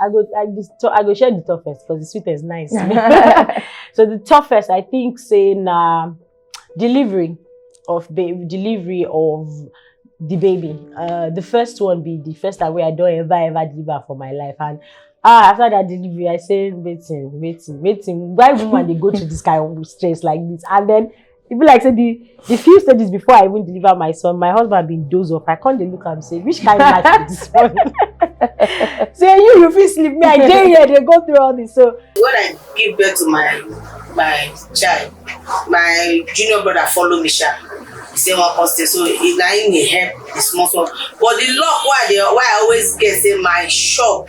I go, I go, I go share the toughest because the sweet is nice. so the toughest, I think, say na delivery of baby, delivery of the baby. Uh, the first one be the first time where I don't ever ever deliver for my life, and ah after that delivery i say waiting waiting waiting why woman they go to this kind of stress like this and then e be like say the the few stages before i even deliver my son my husband bin doze off i come dey look am say which kind life be this one say you you fit sleep me i dey here dey go through all this so. when i give birth to my my child my junior brother follow me sha he say wan come stay so he na him dey help the small small but the luck wey i dey wey i always get say my shop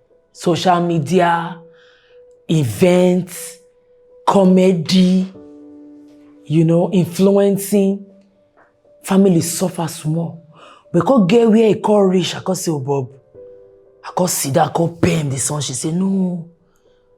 social media events comedy you know influencing family suffer small but come get where e come reach i come say obob i come sit down i come pen the son she say no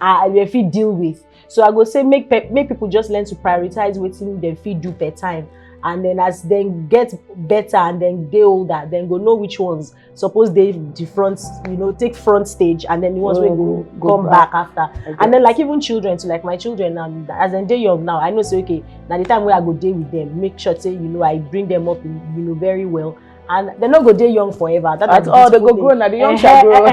I will fit deal with. So I go say make make people just learn to prioritize waiting they fit do per time. And then as they get better and then they older, then go know which ones suppose they the front, you know, take front stage and then the ones oh, will go, go come back, back after. And then like even children, so like my children now, as they day young now, I know say okay, now the time where I go day with them, make sure say, you know, I bring them up, you know, very well. and they no go dey young forever that at all they go grow na the young shall grow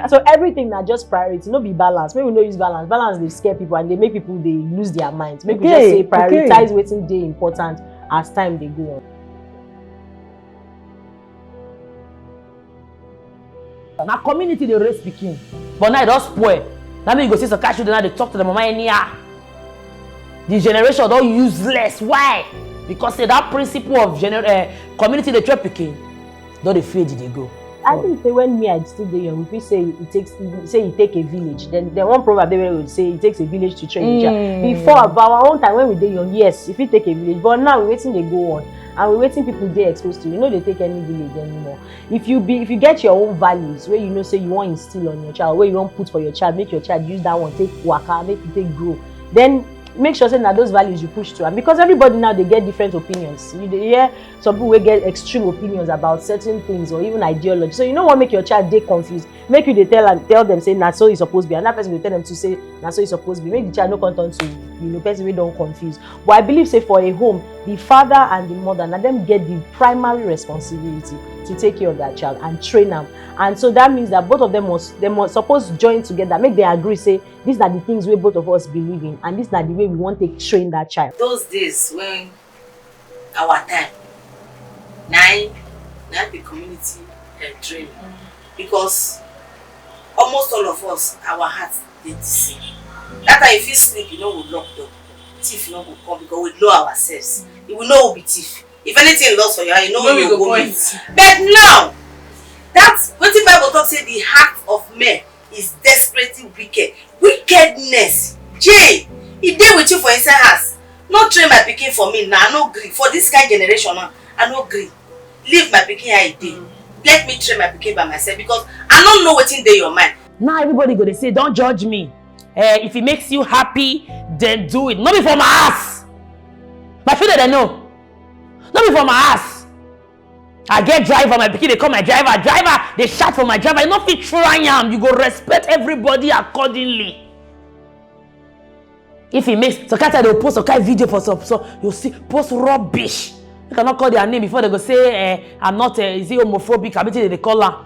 so everything na just priority no be balance make we no use balance balance dey scare people and dey make people dey lose their mind make okay, we just say prioritize okay. wetin dey important as time dey go on. na community dey raise pikin but now e don spoil na me you go see some kind children now dey talk to their mama anyhow the generation don useless why because say that principle of gener uh, community dey train pikin don dey fade e dey go. I think say when me I still dey young, we fit say it takes say it take a village. Then the one proverb there would say it takes a village to train mm. child. Before but our own time when we dey young, yes, if it take a village, but now we waiting they go on and we waiting people dey exposed to. You know they take any village anymore. if you be if you get your own values wey you know say you wan instill on your child wey you wan put for your child make your child use that one take waka make e take grow then make sure say na those values you push to am because everybody now dey get different opinions you dey hear some people wey get extreme opinions about certain things or even ideology so you no wan make your child dey confused make you dey tell am tell dem say na so e suppose be another person go tell dem to say na so e suppose be make the child no come turn to you know person wey don confuse but i believe say for a home the father and the mother na dem get the primary responsibility to take care of their child and train am and so that means that both of them must dem must suppose join together make dem agree say these na the things wey both of us believe in and these na the way we wan take train that child. those days when our time na im na im be community um, training mm -hmm. because almost all of us our heart dey the same that time you fit sleep you no go lock door thief no go come because we know ourselves mm -hmm. we know we be thief if anything lost for your eye you know where you go meet but now that wetin bible talk say the heart of men is desperately wicked. Wickedness. Jay, he dey with you for inside house. No train my picking for me now. I no agree. For this kind generation now, I no agree. Leave my picking how e dey. Let me train my picking by myself because I don't know what's in dey your mind. Now everybody gonna say, don't judge me. Uh, if it makes you happy, then do it. Not be for my ass. My feeling, I know. Not be for my ass. i get driver my pikin dey call my driver driver dey shout for my driver you no fit try am you go respect everybody accordingly if he makes some kind time they go post some kind video for some so you see post rubbish you cannot call their name before they go say eh i'm not eh is he homophobic abi wetin they dey call am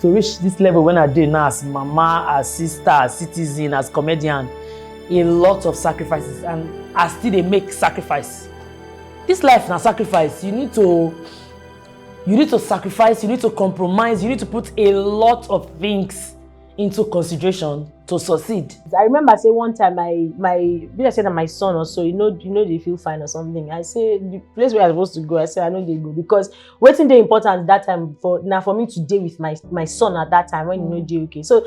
to reach this level when I did now as mama, as sister, as citizen, as comedian, a lot of sacrifices and I still they make sacrifice. This life na sacrifice. You need to you need to sacrifice, you need to compromise, you need to put a lot of things into consideration to succeed. I remember say one time my my be I say that my son or so, you know, you know they feel fine or something. I say the place where I supposed to go, I say I know they go because wetin dey important that time for na for me to dey with my my son at that time when he no mm. dey okay so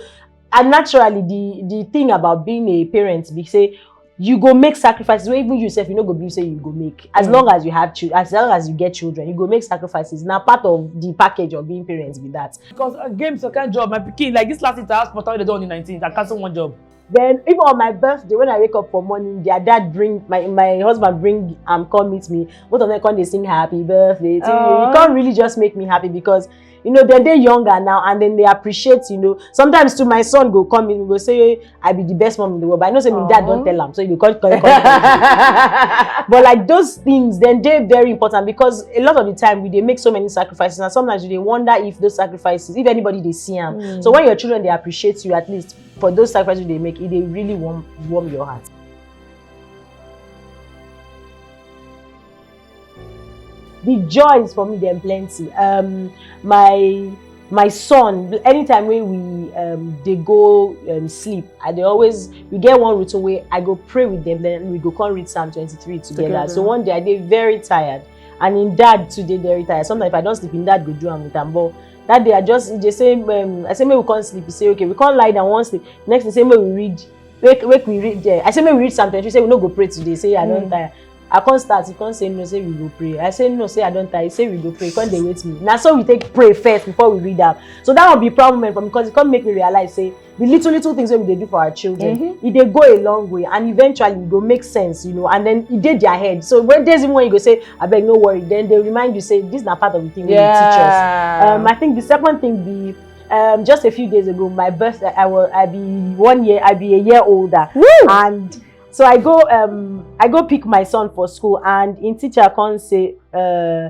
and naturally the the thing about being a parent be say you go make sacrifices wey even you sef you no go believe say you go make as mm. long as you have children as long as you get children you go make sacrifices na part of the package of being parents be that. because uh, games or kind job my pikin like this last interhouse portal wey dey do on the nineteenth i cancel one job Then even on my birthday, when I wake up for morning, their dad bring my my husband bring um come meet me. Both of them come they sing happy birthday to you. Oh. You can't really just make me happy because you know then they younger now and then they appreciate you know sometimes too my son go come in go say i be the best mom in the world but i know say my dad don tell am so you go come come come but like those things then dey very important because a lot of the time we dey make so many sacrifices and sometimes you dey wonder if those sacrifices if anybody dey see am mm. so when your children dey appreciate you at least for those sacrifices you dey make e dey really warm warm your heart. the joys for me dem plenty um, my my son anytime wey we um, dey go um, sleep i dey always we get one routine wey i go pray with them then we go come read psalm twenty-three together Together. so one day i dey very tired and im dad too dey very tired sometimes if i don sleep im dad go do am with am but that day i just e dey say um, i say make we come sleep he say okay we come lie down wan sleep next day say make we read make make we read there i say make we read psalm twenty-three say we no go pray today say i don mm. tire i come start he come say no say we go pray i say no say i don tire he say we go pray he come dey wait me na so we take pray first before we read am so that one be proud moment for me because he come make me realize say the little little things wey we dey do for our children mm -hmm. e dey go a long way and eventually e go make sense you know and then e dey their head so when days even when you go say abeg no worry then they remind you say this na part of the thing wey yeah. you teach us um, i think the second thing be um, just a few days ago my birthday i was i be one year i be a year older Woo! and so i go um, i go pick my son for school and im teacher come say uh,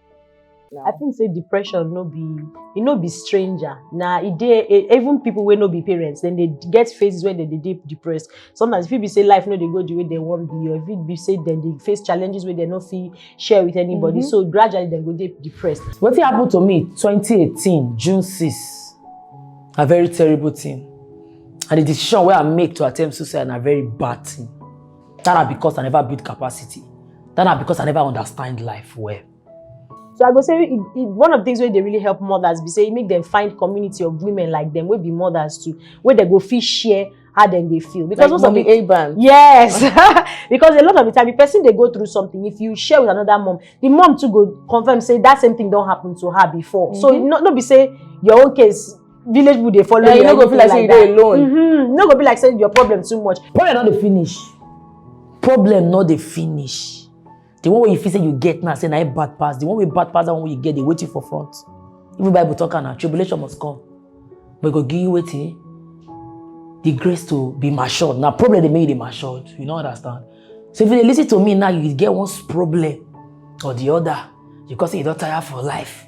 now. I think say depression no be e no be stranger. Na e dey e- even people wey no be parents, dem dey get phases wey dem dey dey depressed. Sometimes e fit be say life no dey go the way dem wan be or e fit be say dem dey face challenges wey dem no fit share with anybody. Mhm. So gradually dem go dey depressed. Wetin happen to me 2018 June 6 na very terrible thing and the decision wey I make to attempt suicide na very bad thing. That na because I never build capacity. That na because I never understand life well. So I go say it, it, one of the things where they really help mothers be say it make them find community of women like them, will be mothers too, where they go feel share how then they feel because like mommy a band yes because a lot of the time the person they go through something if you share with another mom the mom too go confirm say that same thing don't happen to her before mm -hmm. so mm-hmm. not not be say your own case village people dey follow yeah, you no go feel like say you dey alone mm -hmm. no go be like say your problem too much problem no dey finish problem no dey finish the one wey you feel say you get now say na it bad pass the one wey bad pass that one wey you get dey wait you for front even bible talk am na tribulation must come but e go give you wetin the grace to be matured na problem dey make you dey matured you no understand so if you dey lis ten to me now you get one problem or the other because you don tire for life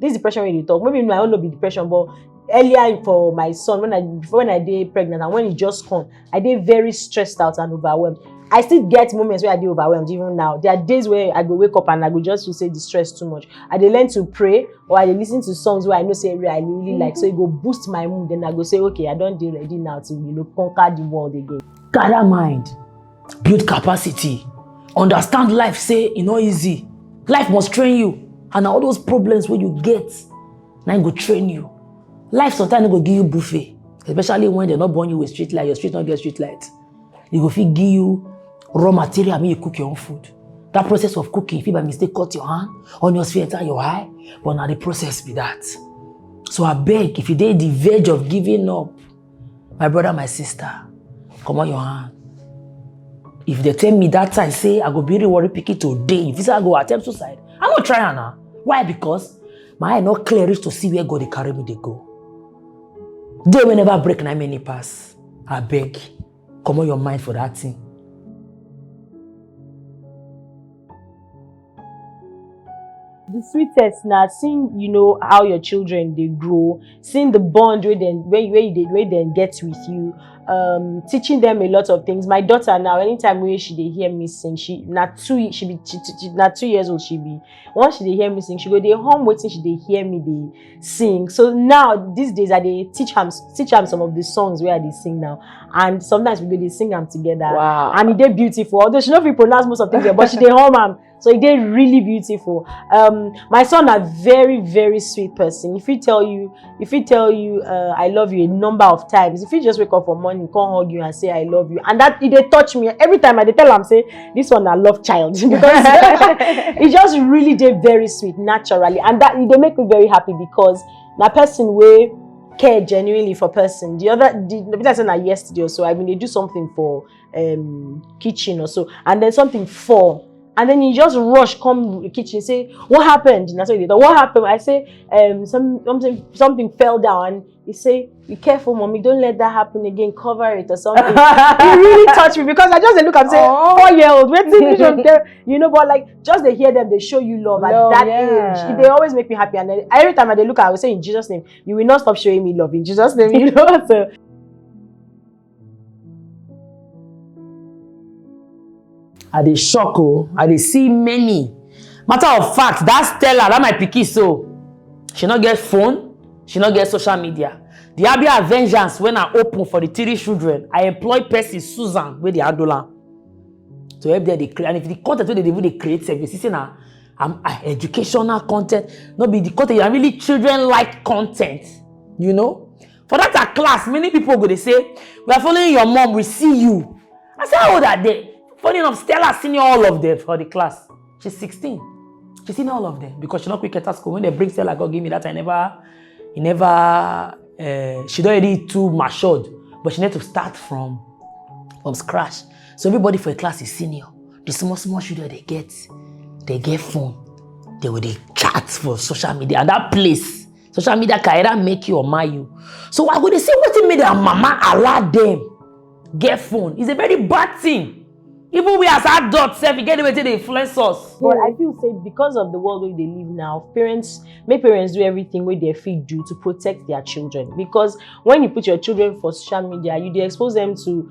this depression wey you dey talk maybe my own no be depression but earlier for my son when i before when i dey pregnant and when e just come i dey very stressed out and overwhelmed i still get moments wey i dey overwhelmed even now there are days wey i go wake up and i go just feel say the stress too much i dey learn to pray or i dey lis ten to songs wey i know say i really like so e go boost my mood then i go say okay i don dey ready now to you know conquer the world again. gather mind build capacity understand life say e no easy life must train you and na all those problems wey you get na im go train you life sometimes no go give you buffet especially when dem no born you with street light your street no get street light e go fit give you raw material make you cook your own food that process of cooking fit by mistake cut your hand onions fit enter your eye but na the process be that so abeg if you dey the verge of giving up my brother my sister come on your hand if they tell me that time say i go be the worry pikin today if you say i go attempt suicide i no try am na why because my eye no clear reach to see where god dey carry me dey go day wey never break na many pass abeg. comot your mind for that thing. the sweetest na seeing you know how your children dey grow seeing the bond wey dem wey you wey you dey wey dem get with you um, teaching them a lot of things my daughter now anytime wey she dey hear me sing she na two ye- she be she, she, she, na two years old she be once she dey hear me sing she go dey hum wetin she dey hear me dey sing so now these days i dey teach am teach am some of the songs wey i dey sing now and sometimes we go dey sing am together wow. and e dey beautiful although she no fit pronounce most of things but she dey hum am so e dey really beautiful um, my son na very very sweet person he fit tell you he fit tell you uh, i love you a number of times he fit just wake up for morning come hug you and say i love you and that e dey touch me every time i dey tell am say this one I love child because it just really did very sweet naturally and that they make me very happy because na person way care genuinely for person the other the, the person I said na yesterday or so I mean they do something for um, kitchen or so and then something for and then he just rush come the kitchen say what happened and I said what happened I say um, some, something something fell down he say be careful mommy don't let that happen again cover it or something He really touch me because i just look and say oh. four year old wetin vision tell you know but like just they hear them they show you love at that yeah. age they always make me happy and every time i dey look i will say in jesus name you will not stop showing me love in jesus name you know so i dey shock o oh. i dey see many matter of fact that stella that my pikin so she no get phone she no get social media the abia vengeance when i open for the three children i employ person susan wey dey handle am to help them dey create and if the content wey dey even dey create sef you see say na um, uh, educational content no be the content na really children like content you know for that her class many people go dey say we are following your mom we see you i say how old are they funny enough stella senior all of them for the class she's 16 she senior all of them because she no quick enter school when they bring stella go give me that i never he never uh, she don already too matured but she need to start from from scratch so everybody for the class is senior the small small children they get they get phone they will dey chat for social media and that place social media career make you or marry you so i go dey see wetin make their mama allow them get phone it's a very bad thing even we as adults sef e get the way take dey influence us. but i feel say because of the world wey dey live now parents make parents do everything wey dem fit do to protect their children because when you put your children for social media you dey expose them to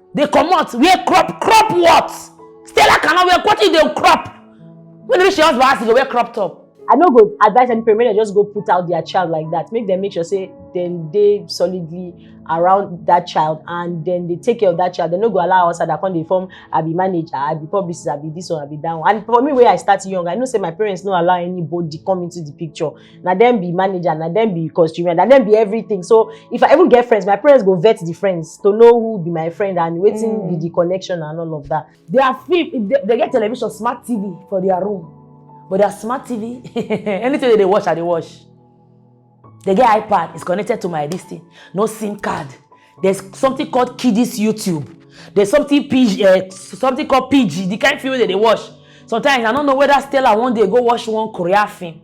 dey comot wear crop crop what stella cannot wear what if dey crop when you reach your husband house you go wear crop top i no go advise any parent make dem just go put out their child like that make dem make sure say dem dey solidly around that child and dem dey take care of that child dem no go allow outsider come dey form i be manager i be publicist i be this one i be that one and for me wey i start young i know say my parents no allow anybody come into the picture na dem be manager na dem be costumer na dem be everything so if i even get friends my parents go vet the friends to know who be my friend and wetin Mm. be the connection and all of that Their film, they, they get television, smart TV for their room. But their smart TV, anything that they watch, I they watch. They get iPad, it's connected to my this thing. No SIM card. There's something called Kiddies YouTube. There's something PG, uh, something called PG, the kind of film that they watch. Sometimes I don't know whether Stella one day go watch one Korea film.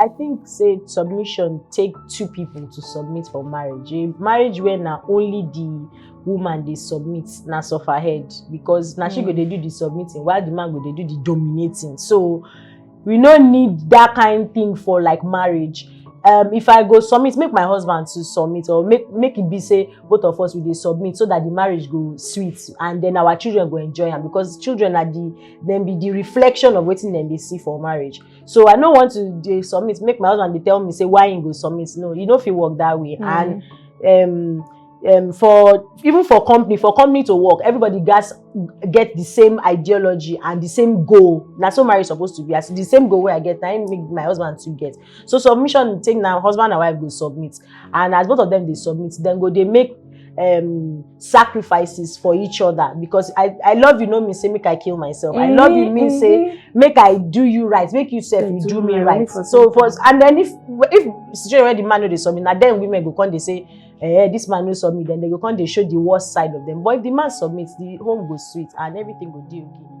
I think say submission take two people to submit for marriage. A marriage where na only the woman dey submit na suffer head because na she go dey do the submitting while the man go dey do the dominating. So we no need that kind thing for like marriage um, if i go submit make my husband to submit or make make it be say both of us we dey submit so that the marriage go sweet and then our children go enjoy am because children are the dem be the reflection of wetin dem dey see for marriage so i no want to dey submit make my husband dey tell me say why he go submit no e no fit work that way and um, um, for even for company for company to work everybody gats get the same ideology and the same goal na so marriage suppose to be as the same goal wey i get na im make my husband too get so submission take na husband and wife go submit and as both of them dey submit dem go dey make um, sacrifices for each other because I, I love you no mean say make I kill myself. Mm-hmm, I love you mean mm-hmm. say make I do you right, make you self you do, do me right. For so for and then if if situation where the man no dey submit, na then women go come dey say eh this man no submit then they go come dey show the worst side of them but if the man submit the home go sweet and everything go dey okay.